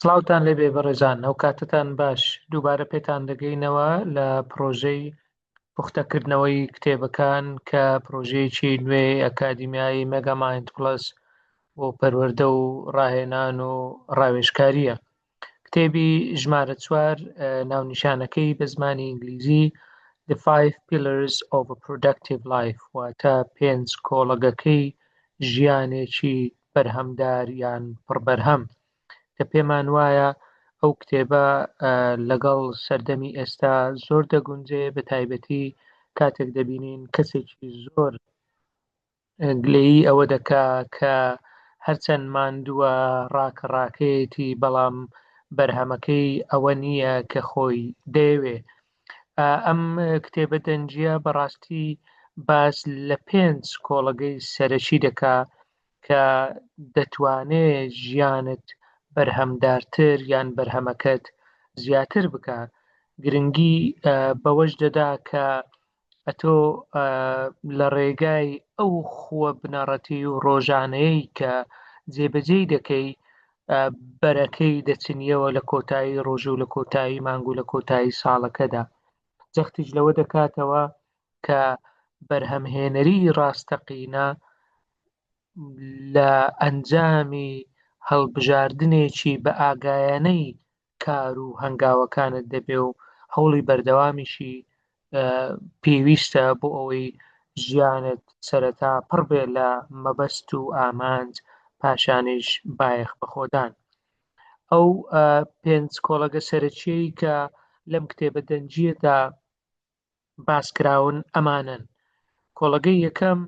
سڵاوتان لێبێ بەڕێزان ئەوکاتەتان باش دووبارە پێتان دەگەینەوە لە پرۆژەی پوختەکردنەوەی کتێبەکان کە پرۆژەیەکی نوێ ئەکادیمیایی مەگەماین پلس بۆ پەروەردە و ڕاهێنان و ڕاوێژکاریە کتێبی ژمارە چوار ناونیشانەکەی بە زمانی ئینگلیزی The Five Pillars of a Productive Life واتە پێنج کۆڵەگەکەی ژیانێکی بەرهەمدار یان پڕبەرهەم کە پێمان وایە ئەو کتێبە لەگەڵ سەردەمی ئێستا زۆر دەگونجێ بە تایبەتی کاتێک دەبینین کەسێکی زۆر گلەیی ئەوە دەکا کە هەرچەند ماندووە ڕاکە ڕاکەیەتی بەڵام بەرهەمەکەی ئەوە نییە کە خۆی دەیەوێ ئەم کتێبە دەنجە بەڕاستی باس لە پێنج کۆڵەگەی سەرەکی دەکا کە دەتوانێ ژیانت بەرهەمدارتر یان بەرهەمەکەت زیاتر بکە گرنگی بەوەش دەدا کە ئەتۆ لە ڕێگای ئەو خووە بنەڕەتی و ڕۆژانەیەی کە جێبەجێی دەکەی بەرەکەی دەچنیەوە لە کۆتایی ڕۆژ و لە کۆتایی مانگ و لە کۆتایی ساڵەکەدا جەختیش لەوە دەکاتەوە کە بەرهەمهێنەری ڕاستەقینە لە ئەنجامی هەڵبژاردنێکی بە ئاگایانەی کار و هەنگاوەکانت دەبێ و هەوڵی بەردەوامیشی پێویستە بۆ ئەوەی ژیانت سەرەتا پڕ بێ لە مەبەست و ئامانج پاشانیش بایەخ بەخۆدان ئەو پێنج کۆڵەگە سەرەکیەی کە لەم کتێبە دەنجیەدا باسکراون ئەمانەن، کۆڵەگەی یەکەم،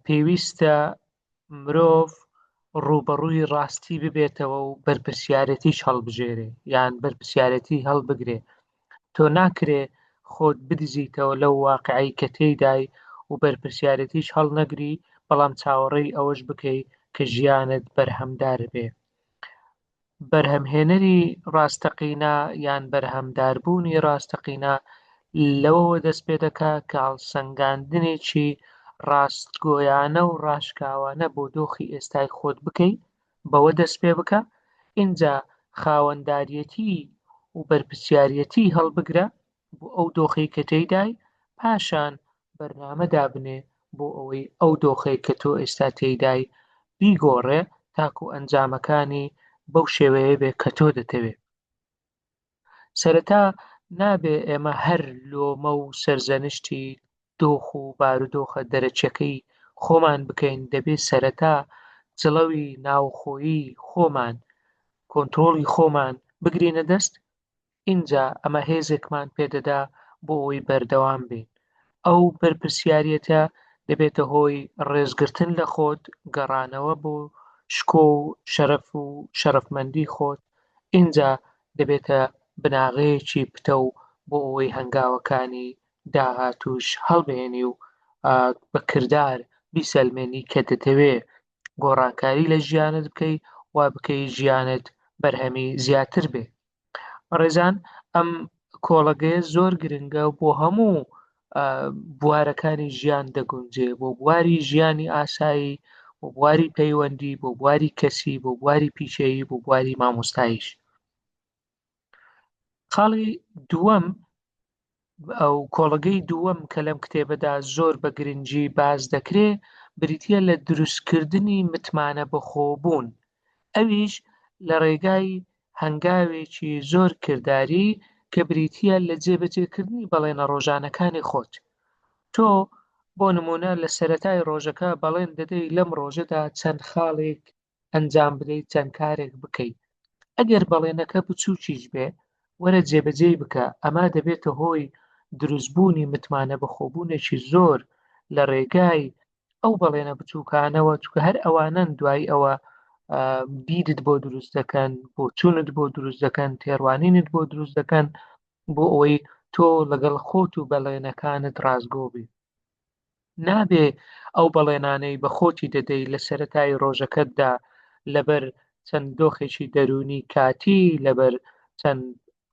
پێویستە مرۆڤ ڕووبەڕووی ڕاستی ببێتەوە و بەرپرسیارەتیش هەڵبژێرێ یان بەرپرسیارەتی هەڵبگرێ تۆ ناکرێ خۆت بدزیتەوە لەو واقعی کە تێدای و بەرپرسیارەتیش هەڵنەگری بەڵام چاوەڕێی ئەوەش بکەی کە ژیانت بەرهەمدار بێ بەرهەمهێنەری ڕاستەقینە یان بەرهەمداربوونی ڕاستەقینە لەوەوە دەست پێ دەکا کە هەڵسەنگاندنێکی ڕاستگۆیانە و ڕاشکاوانە بۆ دۆخی ئێستای خۆت بکەی بەوە دەست پێ بکە ئینجا خاوەنداریەتی و بەرپسیاریەتی هەڵبگرە بۆ ئەو دۆخەی کە تێیدای پاشان بەرنامە دابنێ بۆ ئەوەی ئەو دۆخەی کە تۆ ئێستا تێیدای بیگۆڕێ تاکو ئەنجامەکانی بەو شێوەیە بێ کە تۆ دەتەوێ سەرەتا نابێ ئێمە هەر لۆمە و سەرزەنشتی دۆخ و بارودۆخە دەرەچەکەی خۆمان بکەین دەبێ سەرەتا جڵەوی ناوخۆیی خۆمان کۆنتترۆڵی خۆمان بگرینە دەست ئینجا ئەمە هێزێکمان پێ دەدا بۆ ئەوەی بەردەوام بین. ئەو بەرپرسیاریەتە دەبێتە هۆی ڕێزگرتن لە خۆت، گەڕانەوە بۆ شکۆ و شەرەف و شەرەفمەندی خۆت، ئینجا دەبێتە بناغەیەکی پتەو بۆ ئەوەی هەنگاوەکانی داهاتووش هەڵبێنی و بە کردار بیسەلمێنی کە دەتەوێ گۆڕانکاری لە ژیانت بکەی وا بکەی ژیانت بەرهەمی زیاتر بێ. بەڕێزان ئەم کۆڵەگەیە زۆر گرنگە بۆ هەموو بوارەکانی ژیان دەگونجێ بۆ بواری ژیانی ئاسایی بۆ بواری پەیوەندی بۆ بواری کەسی بۆ بواری پیشەیی بۆ بواری مامۆستایش خاڵی دووەم ئەو کۆڵگەی دووەم کە لەم کتێبەدا زۆر بە گرنگی باز دەکرێ بریتە لە دروستکردنی متمانە بەخۆبوون ئەویش لە ڕێگای هەنگاوێکی زۆر کردداری کە بریتە لە جێبەجێکردنی بەڵێنە ڕۆژانەکانی خۆت تۆ بۆ نمونە لە سەتای ڕۆژەکە بەڵێن دەدەی لەم ڕۆژەدا چەند خاڵێک ئەنجام بدەیت چەند کارێک بکەیت ئەگەر بەڵێنەکە بچووکیش بێ وەرە جێبەجێی بکە ئەمە دەبێتە هۆی دروستبوونی متمانە بەخۆبوونێکی زۆر لە ڕێگای ئەو بەڵێنە بچووکانەوە چکە هەر ئەوانن دوای ئەوە بیرت بۆ دروست دەکەن بۆ چونت بۆ دروست دەکەن تێڕوانینت بۆ دروست دەکەن بۆ ئەوەی تۆ لەگەڵ خۆت و بەڵێنەکانت ڕازگۆ بی نابێ ئەو بەڵێنانەی بە خۆتی دەدەی لە سەتای ڕۆژەکەتدا لەبەر چەند دۆخێکی دەروونی کاتی لەبەر چەند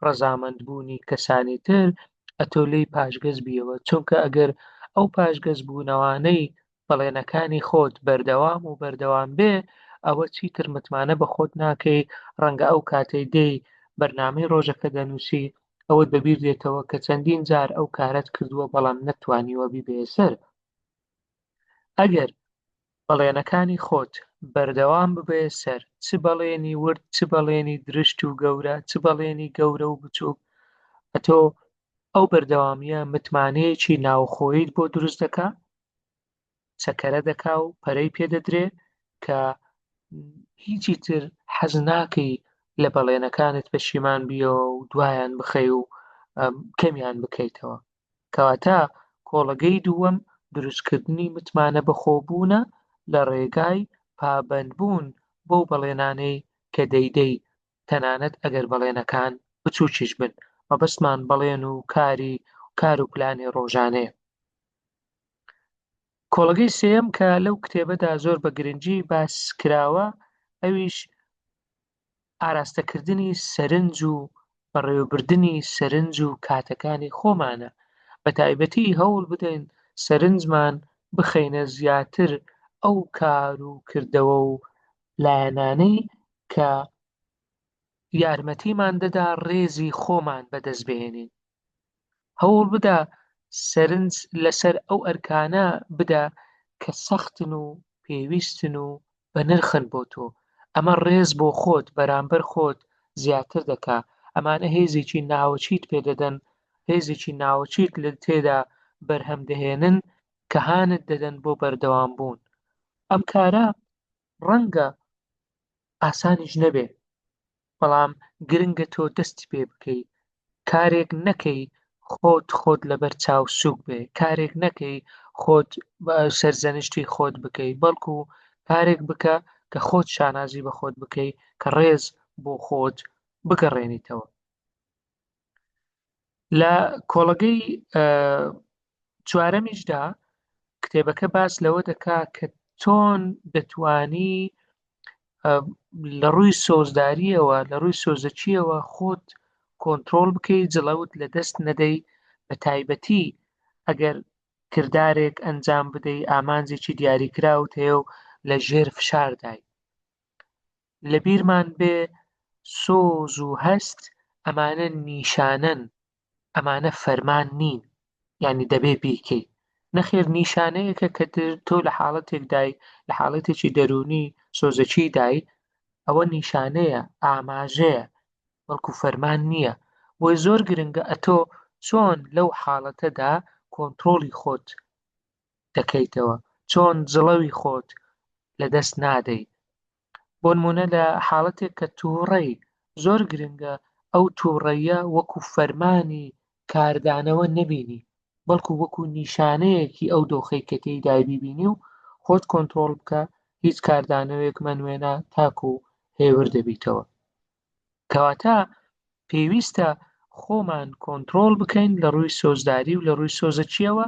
ڕەزامەندبوونی کەسانی تر ئەتۆ لی پاشگەز بیەوە چونکە ئەگەر ئەو پاشگەز بوونەوانەی بەڵێنەکانی خۆت بەردەوام و بەردەوام بێ ئەوە چیتر متمانە بە خۆت ناکەی ڕەنگە ئەو کاتەی دێی بەرنامەی ڕۆژەکە دەنووسی ئەوەت بەبیر دێتەوە کە چەندین جار ئەو کارەت کردووە بەڵام نەتوانیوە بیبەیە سەر ئەگەر بەڵێنەکانی خۆت بەردەوام ببێ سەر چ بەڵێنی ورد چ بەڵێنی درشت و گەورە چ بەڵێنی گەورە و بچووک ئەتۆ ئەو بەردەوامیە متمانەیەکی ناوخۆیت بۆ دروست دەکە چەکەرە دەکا و پەرەی پێدەدرێ کە هیچی تر حەز ناکەی لە بەڵێنەکانت پەشیمان بیەوە و دوایان بخەی و کەمیان بکەیتەوە کەواتە کۆڵەگەی دووەم دروستکردنی متمانە بەخۆبوونە لە ڕێگای پابندبوون بۆ بەڵێنانەی کە دەیدەی تەنانەت ئەگەر بەڵێنەکان بچووکیش بن مەبەستمان بەڵێن و کاری کار و پلانی ڕۆژانەیە کۆڵەگەی سێم کە لەو کتێبەدا زۆر بە گرنگی باس کراوە ئەویش ئاراستەکردنی سەرنج و بەڕێوەبردننی سەرنج و کاتەکانی خۆمانە بە تایبەتی هەوڵ بدەین سەرنجمان بخەینە زیاتر ئەو کار و کردەوە و لایەنانەی کە یارمەتیمان دەدا ڕێزی خۆمان بەدەست بهێنین هەوڵ بدە سەرنج لەسەر ئەو ئەرکانە بدە کە سەختن و پێویستن و بە نرخن بۆ تۆ ئەمە ڕێز بۆ خۆت بەرامبەر خۆت زیاتر دەکا ئەمانە هێزێکی ناوەچیت پێدەدەن هێزێکی ناوەچیت لە تێدا بەرهەم دەهێنن کە هانت دەدەن بۆ بەردەوام بوون ئەم کارە ڕەنگە ئاسانیش نەبێ بەڵام گرنگە تۆ دەستی پێ بکەی کارێک نەکەی خۆت خۆت لەبەر چاو سوک بێ کارێک نەکەی خۆت سەرزەنشتی خۆت بکەی بەڵکو کارێک بکە کە خۆت شانازی بە خۆت بکەی کە ڕێز بۆ خۆت بگەڕێنیتەوە لە کۆڵەگەی چوارەمیشدا کتێبەکە باس لەوە دەکا کە چۆن دەتانی لە ڕووی سۆزداریەوە لە ڕووی سۆزەچیەوە خۆت کۆنتترۆل بکەیت جڵەوت لە دەست نەدەی بە تایبەتی ئەگەر کردارێک ئەنجام بدەی ئامانجێکی دیاریکراوت هەیە و لە ژێر فشاردای لەبیرمان بێ سۆز و هەست ئەمانە نیشانەن ئەمانە فەرمان نین ینی دەبێ بیکەی نەخێر نیشانەیەکە کە تۆ لە حاڵەتێکدای لە حاڵەتێکی دەرونی سۆزەکی دای ئەوە نیشانەیە ئاماژەیە وەڵکو فەرمان نییە بۆی زۆر گرنگە ئەتۆ چۆن لەو حاڵەتەدا کۆنتترۆلی خۆت دەکەیتەوە چۆن جڵەوی خۆت لە دەست نادەی بۆنمونە لە حاڵەتێک کە تووڕەی زۆر گرنگە ئەو تووڕەیە وەکو فەرمانی کاردانەوە نەبینی بەڵکو وەکو نیشانەیەکی ئەو دۆخی کە تێی دایبیبینی و خۆت کۆنتترۆل بکە هیچ کاردانەوەیەک مەنوێنا تاکو هێور دەبیتەوە کەواتە پێویستە خۆمان کۆنترۆڵ بکەین لە ڕووی سۆزداری و لە ڕووی سۆزەچیەوە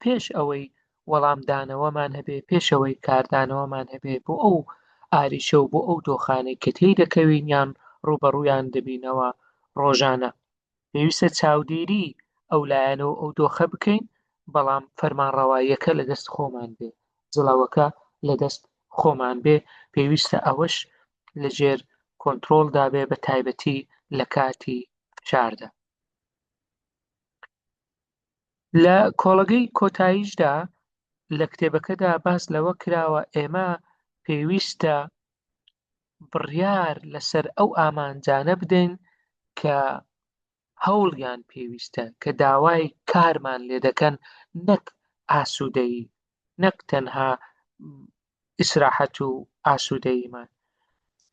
پێش ئەوەی وەڵامدانەوەمان هەبێ پێشەوەی کاردانەوەمان هەبێ بۆ ئەو ئاریشە و بۆ ئەو دۆخانەی کە تێی دەکەوین یان ڕوبەڕویان دەبینەوە ڕۆژانە پێویستە چاودێری ئەو لایەنە و ئەو دۆخە بکەین بەڵام فەرمانڕەواییەکە لە دەست خۆمان بێ جڵاوەکە لە دەست خۆمان بێ پێویستە ئەوەش لە ژێر کۆنترۆڵدا بێ بە تایبەتی لە کاتی فشاردا لە کۆڵەگەی کۆتاییشدا لە کتێبەکەدا باس لەوە کراوە ئێمە پێویستە بڕیار لەسەر ئەو ئامانجانە بدەین کە هەوڵیان پێویستە کە داوای کارمان لێ دەکەن نەک ئاسوودەیی نەک تەنها ئیسراحەت و ئاسوودەییمان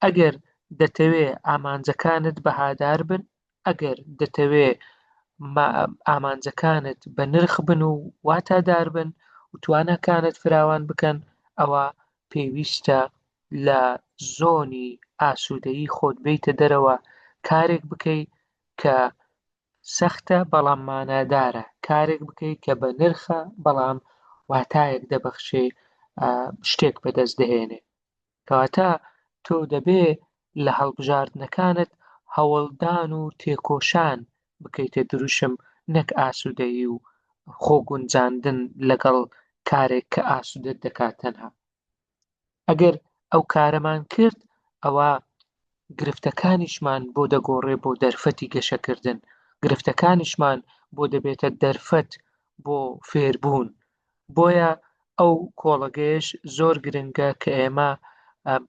ئەگەر دەتەوێ ئامانجەکانت بەهادار بن ئەگەر دەتەوێ ئامانجەکانت بە نرخ بن و واتادار بن و توانەکانت فراوان بکەن ئەوە پێویستە لە زۆنی ئاسوودەیی خۆت بێیتە دەرەوە کارێک بکەی کە سەختە بەڵام مانادارە کارێک بکەی کە بە نرخە بەڵام واتایەک دەبەخشێ شتێک بەدەست دەهێنێ کەواتە تۆ دەبێ لە هەڵبژاردنەکانت هەوڵدان و تێکۆشان بکەیتە دروشم نەک ئاسوودەیی و خۆ گونجاندن لەگەڵ کارێک کە ئاسوودەت دەکات تەنها ئەگەر ئەو کارەمان کرد ئەوە گرفتەکانیشمان بۆ دەگۆڕێ بۆ دەرفەتی گەشەکردن گرفتەکانیشمان بۆ دەبێتە دەرفەت بۆ فێربوون بۆیە ئەو کۆڵەگەیەش زۆر گرنگە کە ئێمە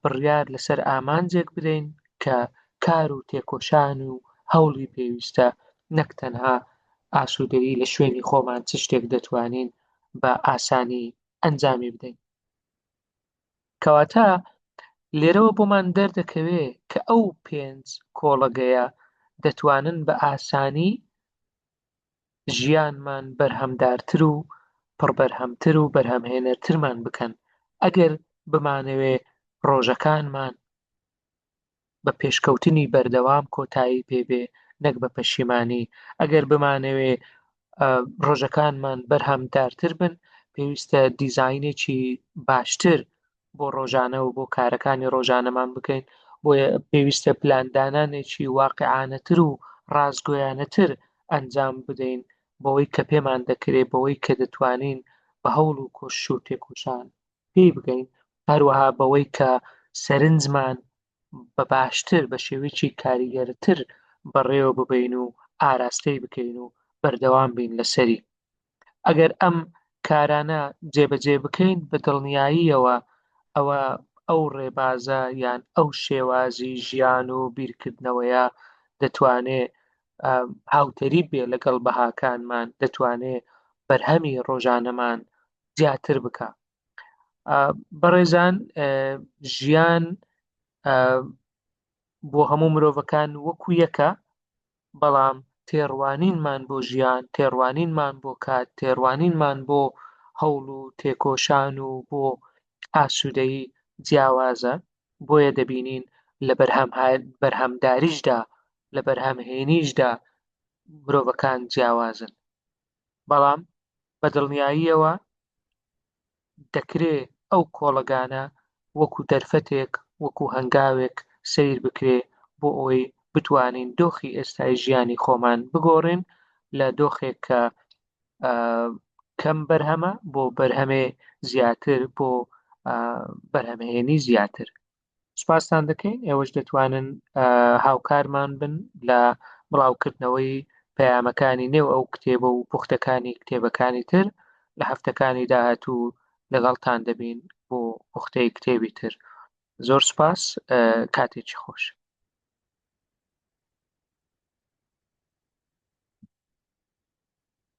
بڕیار لەسەر ئامانجێک بدەین کە کار و تێکۆشان و هەوڵی پێویستە نەک تەنها ئاسوودەیی لە شوێنی خۆمان چ شتێک دەتوانین بە ئاسانی ئەنجامی بدەین کەواتە لێرەوە بۆمان دەردەکەوێ کە ئەو پێنج کۆڵەگەیە دەتوانن بە ئاسانی ژیانمان بەرهەمدارتر و پڕبەرهەمتر و بەرهەمهێنەرترمان بکەن، ئەگەر بمانەوێ ڕۆژەکانمان بە پێشکەوتنی بەردەوام کۆتایی پێ بێ نەک بە پەشیمانی، ئەگەر بمانەوێ ڕۆژەکانمان بەرهەمدارتر بن پێویستە دیزاینێکی باشتر بۆ ڕۆژانە و بۆ کارەکانی ڕۆژانەمان بکەین بۆیە پێویستە پلاندانانێکی واقعانەتر و ڕاستگۆیانەتر ئەنجام بدەین بەوەی کە پێمان دەکرێت بەوەی کە دەتوانین بە هەوڵ و کۆش و تێکۆشان پێی بگەین هەروەها بەوەی کە سەرنجمان بە باشتر بە شێوەیەکی کاریگەرتر بەڕێوە ببین و ئاراستەی بکەین و بەردەوام بین لەسەری ئەگەر ئەم کارانە جێبەجێ بکەین بە دڵنیاییەوە ئەوە ئەو ڕێبازە یان ئەو شێوازی ژیان و بیرکردنەوەیە دەتوانێ هاوتەریب بێ لەگەڵ بەهاکانمان دەتوانێ بەرهەمی ڕۆژانەمان زیاتر بکە بەڕێزان ژیان بۆ هەموو مرۆڤەکان وەکو یەکە بەڵام تێڕوانینمان بۆ ژیان، تێڕوانینمان بۆ کات، تێڕوانینمان بۆ هەوڵ و تێکۆشان و بۆ ئاسوودەیی جیاوازە، بۆیە دەبینین لە بەرهەمداریشدا، لە بەرهەمهێنیشدا مرۆڤەکان جیاوازن. بەڵام بە دڵنیاییەوە دەکرێ ئەو کۆڵەگانە وەکو دەرفەتێک، وەکو هەنگاوێک سەیر بکرێ بۆ ئەوەی بتوانین دۆخی ئێستای ژیانی خۆمان بگۆڕین لە دۆخێک کە کەم بەرهەمە بۆ بەرهەمێ زیاتر بۆ بەرهەمهێنی زیاتر. سپاستان دەکەین ئێوەش دەتوانن هاوکارمان بن لە بڵاوکردنەوەی پەیامەکانی نێو ئەو کتێبە و پوختەکانی کتێبەکانی تر لە هەفتەکانی داهاتوو لەگەڵتان دەبین بۆ پوختەی کتێبی تر زۆر سپاس کاتێکی خۆش